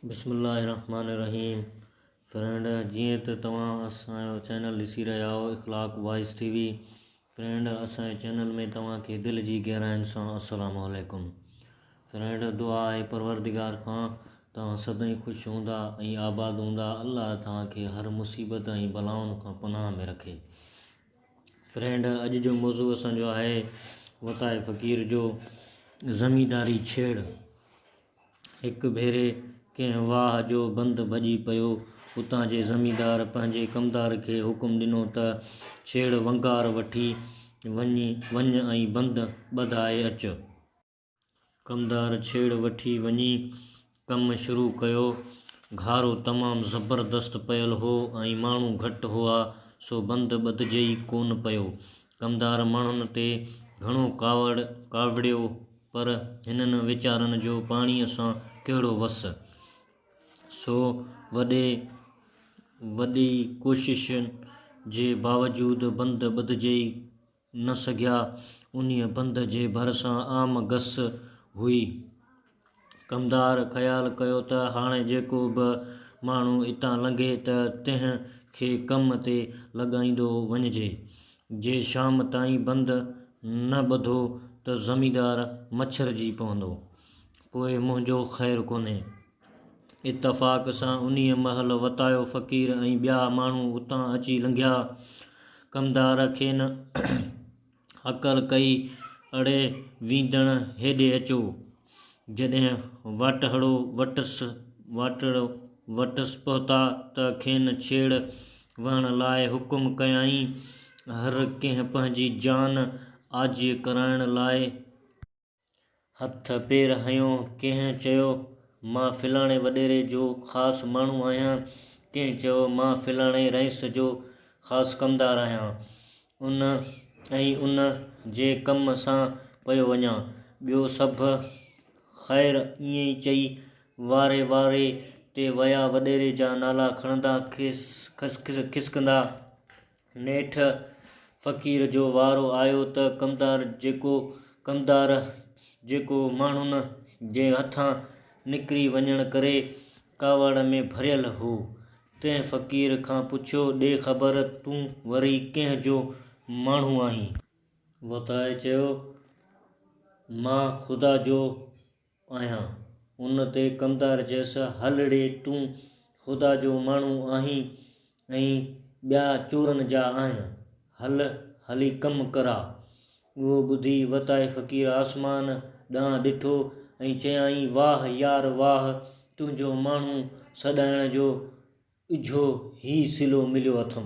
بسم الله الرحمٰن الرحيم فرينڊ جيئن ته توهان اسان جو چينل ڏسي رهيا آهو Akhlaq wise T V friend اسان جي چينل ۾ توهان کي دل جي گهراين سان السلام عليڪم فرينڊ دعا آهي پروردگار کان توهان سدائين خوش هوندا ۽ آباد هوندا الله توهان کي هر مصيبت ۽ بلائن کان پناهه ۾ رکي فرينڊ اڄ جو موضوع اسان جو آهي وتايي فقير جو زمينداري ڇيڙ هڪ ڀيري ڪنهن واهه جو بند ڀڄي پيو. اتان جي زميندار پنهنجي ڪمدار کي حڪم ڏنو ته ڇيڙ ونگار وٺي وڃ ۽ بند ٻڌائي اچ. ڪمدار ڇيڙ وٺي وڃي ڪم شروع ڪيو. گهارو تمام زبردست پيل هو ۽ ماڻهو گهٽ هئا، سو بند ٻڌجي ئي ڪونه پيو. ڪمدار ماڻهن تي گهڻو ڪاوڙيو. پر هنن ويچارن جو پاڻيء سان ڪهڙو وس؟ سو وڏي وڏي ڪوششن جي باوجود بند ٻڌجئي نه سگهيا. انهيء بند جي ڀرسان عام گس هئي. ڪمدار خيال ڪيو ته هاڻي جيڪو به ماڻهو اتان لنگهي ته تنهن کي ڪم تي لڳائيندو وڃجي. جي شام تائين بند نه ٻڌو ته زميندار مڇرجي پوندو. پوء منهنجو خير ڪونهي. اتفاق سان انهيء مهل وتايو فقير ۽ ٻيا ماڻهو اتان اچي لنگهيا. ڪمدار کين هڪل ڪئي، اڙي ويندڻ هيڏي اچو. جڏهن واٽهڙو وٽس واٽهڙو وٽس پهتا ته کين ڇيڙ وهڻ لاء حڪم ڪيائين. هر ڪنهن پنهنجي جان آجي ڪرائڻ لاء. هٿ پير هنيو. ڪنهن چيو مان فلاڻي وڏيري جو خاص ماڻهو آهيان، ڪنهن چيو مان فلاڻي رئيس جو خاص ڪمدار آهيان. ان ۽ ان جي ڪم سان پيو وڃان. ٻيو سڀ خير ائين ئي چئي واري واري تي ويا وڏيري جا نالا کڻندا کسڪندا. نيٺ فقير جو وارو آيو ته ڪمدار جيڪو ڪمدار جيڪو ماڻهن جي هٿان نڪري وڃڻ ڪري ڪاوڙ ۾ ڀريل هو. تنهن فقير کان پڇيو، ڏي خبر تون وري ڪنهن جو ماڻهو آهين؟ وتائي چيو، مان خدا جو آهيان. ان تي ڪمدار چيس، هل ڙي تون خدا جو ماڻهو آهين ۽ ٻيا چورن جا آهن. هل، هلي ڪم ڪر آ. اهو ٻڌي وتائي فقير آسمان ڏانهن ڏٺو ۽ چيائين، واهه يار واهه، تنهنجو ماڻهو سڏائڻ جو اجهو هي صلو مليو اٿم.